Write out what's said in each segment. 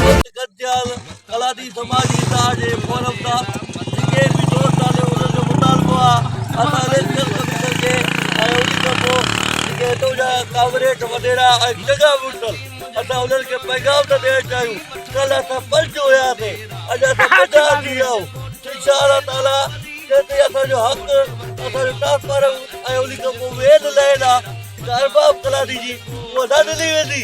سنڌ گڏجيل ڪلاتي سماجي ادار جي فورم سان جيڪي به دوست آهن انهن جو مطالبو آهي اسان اليڪشن ڪميشن کي ۽ ان کان پوء جيڪي هتو جا ڪامريڊ وڏيرا ۽ چڱا مڙس اسان انهن کي پيغام ٿا ڏيڻ چاهيون ڪلهه اسان پنج هياسي اڄ اسان ٻه ٽي ٿي ويا آهيون انشاء الله تعالي جيسين اسان جو حق اسان جو ٽرانسفارم ۽ ان کان پوء مين لائين آهي جيڪا ارباب ڪلاتي جي اها نه ڏني ويندي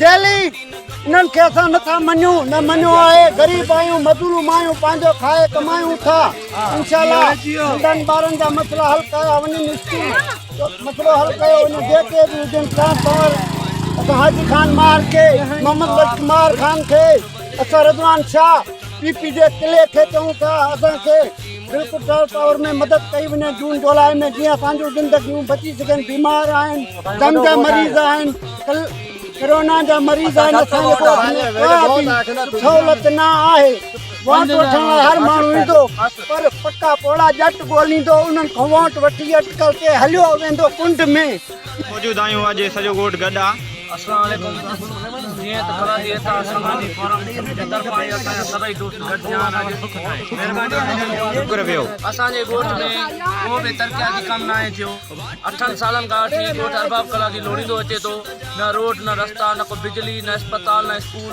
دهلي، انهن کي اسان نه ٿا مڃون، نه مڃيو آهي، غريب آهيون، مظلوم آهيون، پنهنجو کائي ڪمايون ٿا، انشاء الله ننڍن ٻارن جا مسئلا حل ڪيا وڃن، اسڪول جو مسئلو حل ڪيو وڃي، جيڪي به هجن سان سنور، اسان حاجي خان مار کي، محمد بخش مار خان کي، اسان رضوان شاهه، پي پي جي قلعي کي چئون ٿا، اسان کي. بلڪل ٽرانس پاور ۾ مدد ڪئي وڃي جون جولاء ۾ جيئن اسان جون زندگيون بچي سگهن بيمار آهن دم جا مريض آهن ڪرونا جا مريض آهن اسان جي ڪو سهولت نه آهي ووٽ وٺڻ لاء هر ماڻهو ايندو پر پڪا پوڙها ڄٽ ڳوليندو انهن کان ووٽ وٺي اٽڪل تي هليو ويندو ڪنڊ ۾ موجود آهيون اڄ سڄو ڳوٺ گڏ آ. السلام عليڪم جيئن ته خدا جي عطا سماجي فورم جي طرفان هي اسان جا سڀئي دوست گڏجيا آهن اڄ مهرباني آهي جن جو شڪر ويو اسان جي ڳوٺ ۾ ڪو به ترقياتي ڪم ناهي ٿيو اٺن سالن کان وٺي ڳوٺ ارباب ڪلاڪي لوڙيندو اچي ٿو نه روڊ نه رستا نه ڪو بجلي نه اسپتال نه اسڪول